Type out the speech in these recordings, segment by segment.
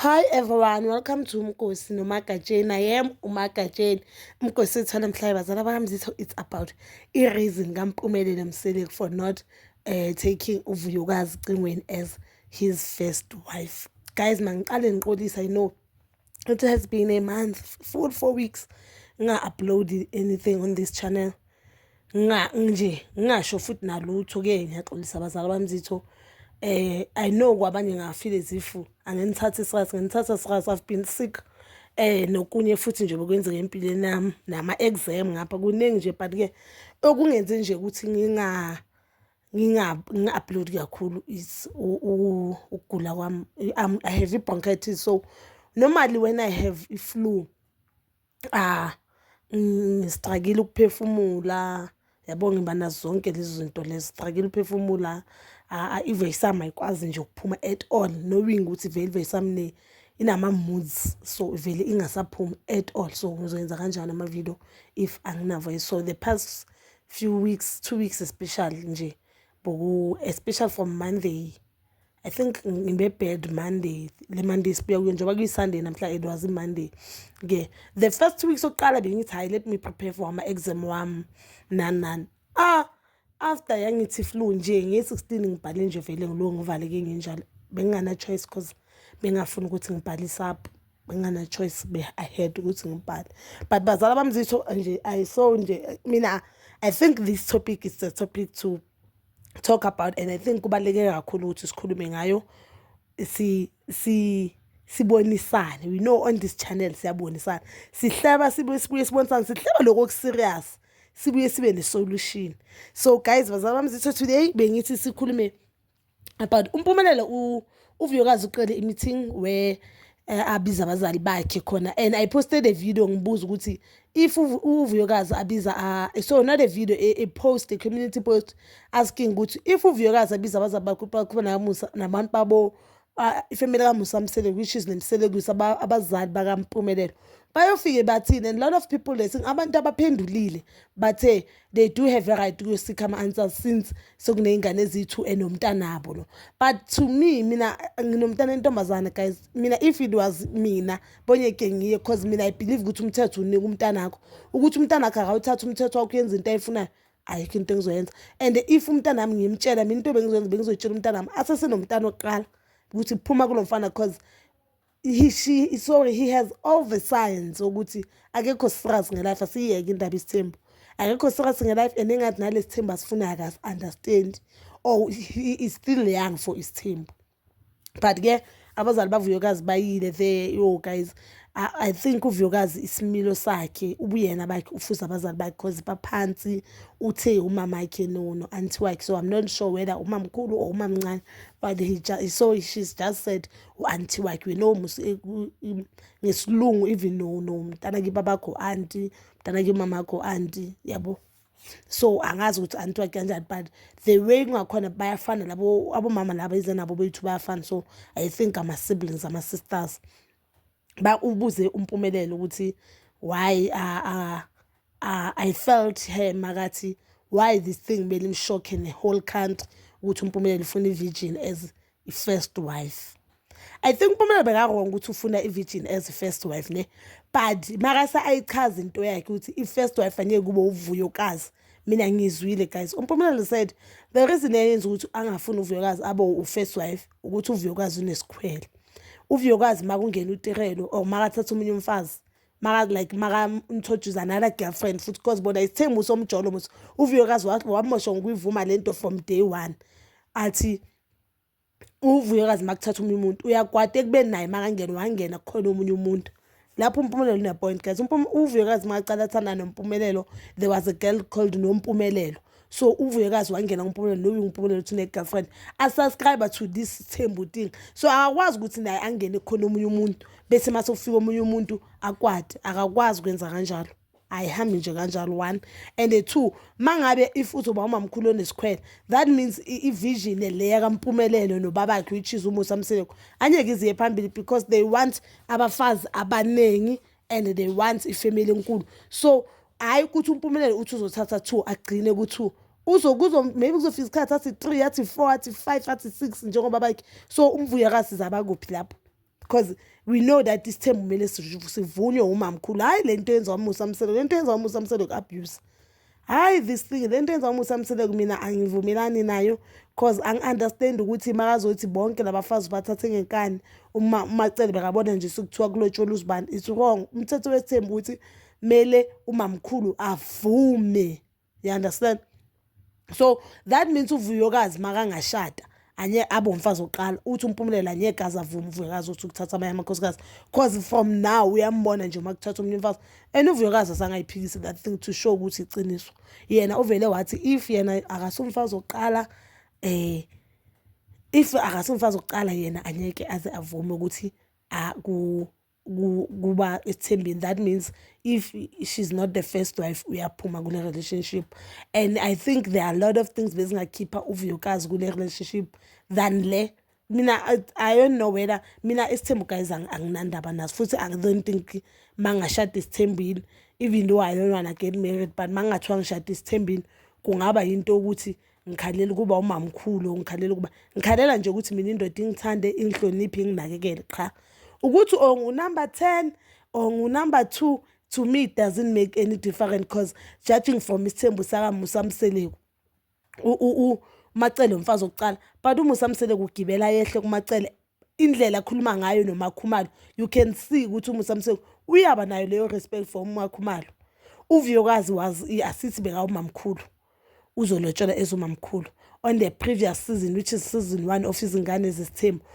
Hi everyone, welcome to Mkosi noMagatsheni. I am uMagatsheni. Mkosi ethana mhlaba bazala bakamzitho it's about i reason kaMpumelelo Mseleku for not uh, taking uVuyokazi Cingweni as his first wife. Guys, mangiqale ngiqolisa I know it has been a month, full 4 weeks nga upload anything on this channel. nje ngingasho futhi nalutho ke ngiyaxolisa abazali bamzitho um eh, i know kwabanye ngafile zifu angenithathi sras ngenithatha sras i've been sick eh nokunye futhi nje bokwenzeka empilweni yami nama exam ngapha kuningi nje but ke okungenze nje ukuthi nginga nginga-upload kakhulu is ukugula kwami i have i-bronchitis so normally when i have i-flu Ah, ngisixakile ukuphefumula yabo ngiba nazo zonke lezi zinto lezi sixakile ukuphefumula ive isam ayikwazi nje ukuphuma at all knowing ukuthi vele ive isamne inama-moods so vele ingasaphumi at all so ngizoyenza kanjani ama-video if anginavo so the past few weeks two weeks especially nje boku especially from monday I think ngibebad Monday le Monday sibuya kuyo njengoba kuyiSunday namhla it was Monday ke the first two weeks sokuqala bengithi hayi let me prepare for ama exam wami nan nan ah after yangithi flu nje nge-16 ngibhale nje vele ngilo ngivaleke nginjalo bengingana choice cause bengafuni ukuthi ngibhalise up bengingana choice be ahead ukuthi ngibhale but bazala bamzitho nje i saw nje mina i think this topic is the topic to talk about and i think kubaluleke kakhulu ukuthi sikhulume ngayo si si sibonisane we know on this channel siyabonisana sihleba sibuye sibuye sibonisane sihleba lokho okuserious sibuye sibe ne-solution so guys bazalwa bami zitho today bengithi sikhulume but umpumelelo uvuyokazi uqele i-meeting where eh, abiza abazali bakhe khona and i posted a video ngibuza ukuthi if uvuyokazi abiza so not a video a, a post a community post asking ukuthi if uvuyokazi abiza abazali bakhe bakhona namusa nabantu babo ifamily kamusa msele which is nemselekwisa abazali bakampumelelo bayofike bathini and lot of people lesi abantu abaphendulile bathe they do have a right to seek ama answers since sekuneyingane eziyi-two enomntanabo lo but to me mina nginomntana entombazane guys mina if it was mina bonyeke ngiye cause mina i believe ukuthi umthetho unika umntanakho ukuthi umntanakho akawuthatha umthetho wakho uyenza into ayifunayo ayikho into engizoyenza and if umntanami ngimtshela mina into bengizoyenza bengizoyitshela umntanami asesenomntana oqala ukuthi phuma kulo mfana cause he she sorry he has all the signs ukuthi akekho serious ngelife asiyeke indaba isithembu akekho serious ngelife and engathi nalesithembu asifuna akas understand or he is still young for isithembu but ke abazali bavuyokazi bayile there yo guys I, I think uvuyokazi isimilo sakhe ubuyena bakhe ufuza abazali bakhe cause baphansi uthe umama wakhe no no anti wakhe so i'm not sure whether umamkhulu or umamncane but he just, so she's just said u-anti wakhe no ngesilungu even no no mntana kiba bakho anti mntana ke mama akho anti yabo so angazi ukuthi anti wakhe kanjani but the way kungakhona bayafana labo abomama laba ize nabo bethu bayafana so i think ama-siblings ama-sisters ba ubuze umpumelelo ukuthi why uh, uh, uh, i felt her makathi why this thing belimshocke ne-whole country ukuthi umpumelelo ufuna i-virgin as i-first wife i think umpumelelo bekawrong ukuthi ufuna i-virgin as i-first wife ne but makase ayichaza into yakhe ukuthi i-first wife angeke kube uvuyokazi mina ngizwile guys umpumelelo said the reason eyenza ukuthi angafuni uvuyokazi abo u-first wife ukuthi uvuyokazi unesikhwele uvuyokazi uma kungena utirelo or uma kathatha omunye umfazi maka like maka introduce another girlfriend futhi because bona isithembu somjolo mos uvuyokazi wamosha ngokuyivuma lento from day one athi uvuyokazi makuthatha umuntu uyakwata ekubeni naye makangena wangena kukhona omunye umuntu lapho umpumelelo unepoint guys uvuyokazi makaqala athanda nompumelelo there was a girl called nompumelelo so uvuyokazi wangena kumpumelelo loyo umpumelelo uthi une-girlfriend asubscribe to this thembu thing so akakwazi ukuthi naye angene khona omunye umuntu bese mase ufika omunye umuntu akwade akakwazi ukwenza kanjalo ayihambi nje kanjalo one and two mangabe if uzoba umamkhulu onesikhwele that means ivision le yakampumelelo nobabakhe which is umusa mseleko anyeke iziye phambili because they want abafazi abaningi and they want ifamily enkulu so hhayi ukuthi umpumelelo uthi uzothatha two agcine ku-two uzokuzo maybe kuzofika isikhathi athi three athi four athi five athi six njengoba bakhe so umvuyakazi zaba kuphi lapho because we know that isithembu kumele sivunywe umamkhulu hhayi le nto yenziwa umusa mselo le nto yenziwa umusa mselo ku-abuse hhayi this thing le nto yenziwa umusa mseleko mina angivumelani nayo cause angi-understand ukuthi makazothi bonke labafazi bathathe ngenkani uma umacele bekabona nje sekuthiwa kulotshola uzibani it's wrong umthetho wesithembu ukuthi kumele umamkhulu avume you understand so that means uvuyokazi makangashada anye abe umfazi oqala uthi umpumelelo anyeke aze avume uvuyokazi uthi ukuthatha amanye amakhosikazi cause from now uyambona nje uma kuthatha omunye umfazi and uvuyokazi asangayiphikisi that thing to show ukuthi iqiniso yena uvele wathi if yena akasumfazi oqala eh if akasumfazi oqala yena anyeke aze avume ukuthi aku kuba ethembeni that means if she's not the first wife uyaphuma kule relationship and i think there are a lot of things bezingakhipha uvuyokazi kule relationship than le mina i don't know whether mina isithembu guys anginandaba naso futhi i don't think mangashada isithembile even though i don't wanna get married but mangathiwa ngishada isithembile kungaba yinto yokuthi ngikhalela ukuba umamkhulu ngikhalela ukuba ngikhalela nje ukuthi mina indoda ingithande ingihloniphe inginakekele qha ukuthi or ngunumber ten or ngunumber two to me it doesn't make any difference because judging from isithembu sakamusa mseleku umacele umfazi wokucala but umusa mseleku ugibela yehle kumacele indlela akhuluma ngayo nomakhumalo you can see ukuthi umusa mseko uyaba nayo leyo respect for umakhumalo uvuyokazi was asithi bekawumamkhulu uzolotshelwa ezumamkhulu on the previous season which is season one of izingane zesithembu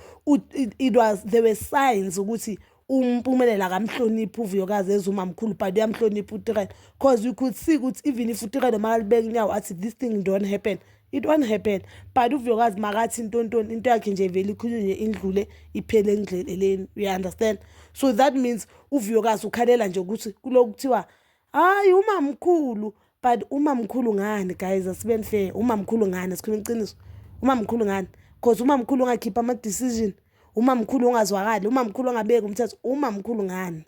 it was there were signs ukuthi umpumelela akamhloniphi uvuyokazi ezuma mkhulu but uyamhlonipha utirelo because you could see ukuthi even if utirelo makalibeka inyawo athi this thing don't happen it won't happen but uvuyokazi makathi ntontoni into yakhe nje vele ikhulunywe indlule iphele engidleleleni you understand so that means uvuyokazi ukhalela nje ukuthi kuloku kuthiwa hayi umamkhulu but umamkhulu ngani guys asibeni fair umamkhulu ngani sikhuluma iqiniso umamkhulu ngani because umamkhulu ongakhipha ama-decision umamkhulu ongazwakali umamkhulu ongabeki umthetho umamkhulu ngani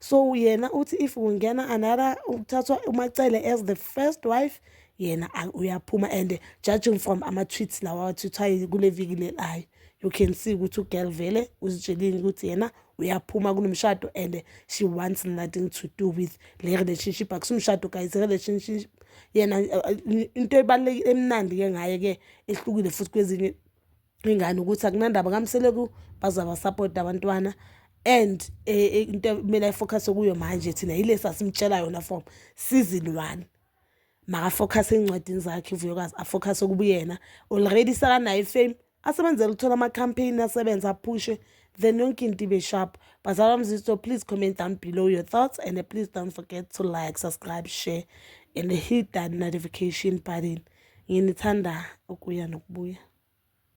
so yena uthi if kungena another ukuthathwa umacele as the first wife yena uyaphuma and judging from ama-tweets lawa awathwithwayo kule viki leli ayo you can see ukuthi ugirl vele uzitshelile ukuthi yena uyaphuma kunomshado and she wants nothing to do with le relationship akusumshado guys relationship yena uh, into ebalulekile emnandi ke ngaye ke ehlukile futhi kwezinye ingane ukuthi akunandaba kamseleku bazaba support abantwana and eh, eh, into kumele ayifocus kuyo manje thina yile sasimtshela yona from season 1 makafocus encwadini zakhe uvuyokazi afocus okubuyena already sakanayo ifame asebenzele ukuthola ama-campaign asebenze aphushe then yonke into ibe sharp bazalwa mzisto please comment down below your thoughts and please don't forget to like subscribe share and hit that notification button nginithanda ukuya nokubuya